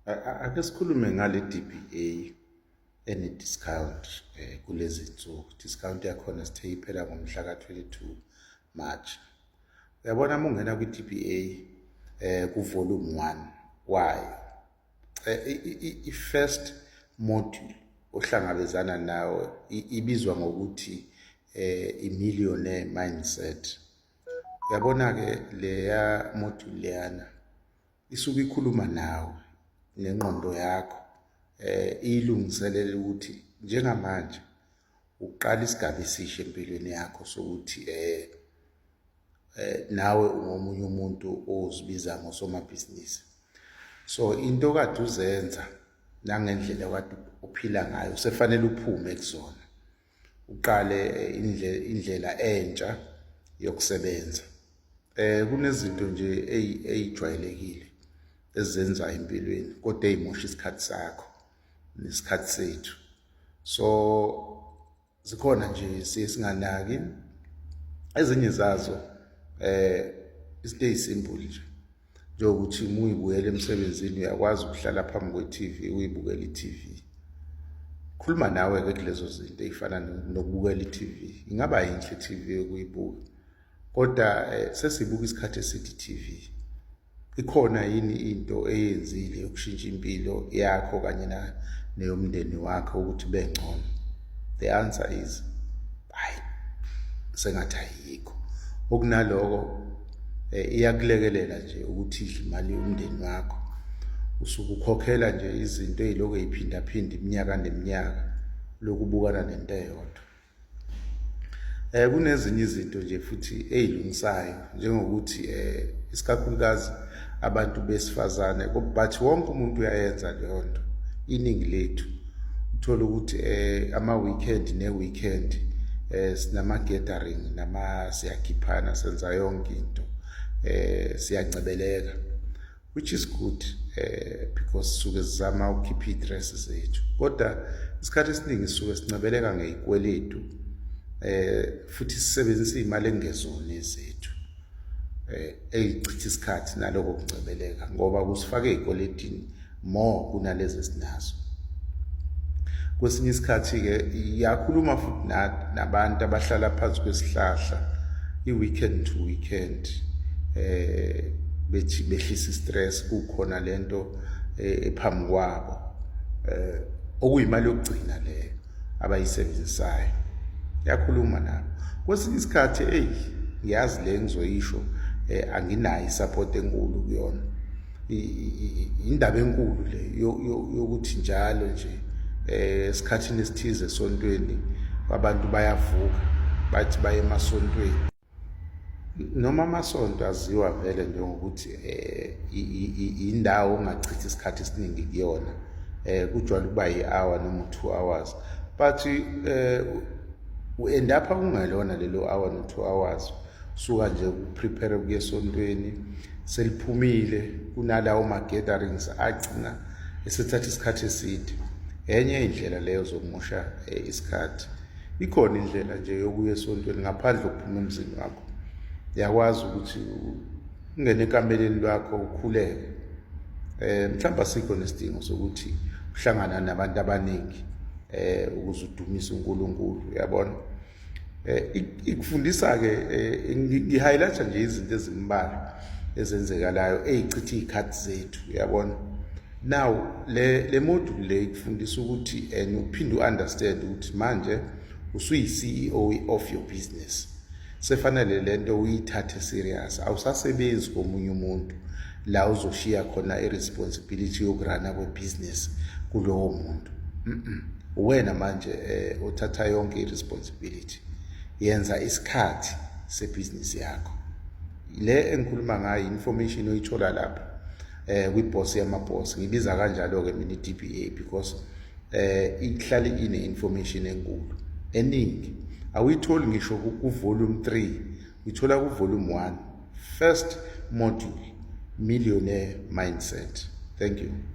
ake sikhulume ngale DBA ene discount eh, kulezi nsuku discount yakhona sithe iphela ngomhla ka-22 March uyabona uma ungena kwi-DBA eh kuvolume 1 kwayo eh, i-first module ohlangabezana nawo ibizwa ngokuthi eh i-millionaire mindset Yabona-ke leya module leyana isuke ikhuluma nawe nengqondo yakho eh iyilungiselela ukuthi njengamanje uqala isigaba esisha empilweni yakho sokuthi eh eh nawe ungomunye umuntu ozibiza ngosomabhizinisi so into kade uzenza nangendlela kade uphila ngayo sefanele uphume kuzona uqale eh, indlela entsha yokusebenza eh kunezinto nje eyijwayelekile ezenza empilweni kodwa eyimosha isikhathi sakho nesikhathi sethu so zikhona nje siye singanaki ezinye zazo eh izinto ezisimple nje njengokuthi uma uyibuyela emsebenzini uyakwazi ukuhlala phambi kwe-tv uyibukela i-tv khuluma nawe-ke kulezo zinto ey'fana nokubukela i-tv ingaba yinhle i-tv yokuyibuka kodwa eh, sesibuka isikhathi esithi i-tv ikhona yini into eyenzile yokushintsha impilo yakho kanye neyomndeni wakho ukuthi bengcono the answer is hayi sengathi ayikho okunaloko eh, iyakulekelela nje ukuthi idle imali yomndeni wakho usuke ukhokhela nje izinto eziloko eziphindaphinda iminyaka neminyaka lokubukana nento eyodwa eh kunezinye izinto nje futhi ezilungisayo njengokuthi um isikakhulukazi abantu besifazane but wonke umuntu uyayenza leyo nto iningi lethu uthole ukuthi um ama-weekend ne-weekend um sinama-gathering nama siyakhiphana senza yonke into um siyancebeleka which is good eh because suke sizama ukukhipha istress zethu kodwa isikhathi esiningi suke sincebeleka ngezikweletu eh futhi sisebenzisa imali engezone zethu eh eyichitha isikhathi naloko kuncebeleka ngoba kusifake ezikweletini more kunalezi sinazo kwesinye isikhathi ke iyakhuluma futhi nabantu abahlala phansi kwesihlahla i weekend to weekend eh bethi behlisa istress kukhona lento eh, ephambi kwabo eh okuyimali yokugcina leyo abayisebenzisayo yakhuluma nabo kwesinye isikhathi eyi ngiyazi le ngizoyisho eh anginayo support enkulu kuyona indaba enkulu le yokuthi njalo nje eh esikhathini esithize esontweni abantu bayavuka bathi baye emasontweni noma amasonto aziwa vele njengokuthi um indawo ongachithi isikhathi esiningi kuyona um kujwayele ukuba yi-hour noma u-two hours but um u-endapha kungelona lelo hour no-two hours suka nje ukuprepare kuye esontweni seliphumile kunalawo ma-gatherings agcina esethatha isikhathi eside enye indlela leyo zokumosha eh, isikhathi Ikhona indlela nje yokuya esontweni ngaphandle kokuphuma emzini wakho. Uyakwazi ukuthi ungene ekameleni lwakho ukhuleke. Eh mhlawumbe asikho nesidingo sokuthi uhlangana nabantu abaningi eh ukuze udumise uNkulunkulu, uyabona? Eh ikufundisa ke eh, ngi-highlight nje izinto ezimbalwa ezenzekalayo ezichitha izikhathi zethu, uyabona? now le le module le ikufundisa ukuthi and uphinde uunderstand ukuthi manje usuyi CEO of your business sefanele lento uyithathe serious awusasebenzi komunye umuntu la uzoshiya khona iresponsibility yokurana kwebusiness kulowo muntu uwena manje eh uthatha yonke iresponsibility yenza isikhathi sebusiness yakho le engikhuluma ngayo information oyithola lapha eh kwiboss yamaboss ngibiza kanjalo ke mina iDBA because eh ihlale ine information enkulu eningi awuyitholi ngisho ku volume 3 uyithola ku volume 1 first module millionaire mindset thank you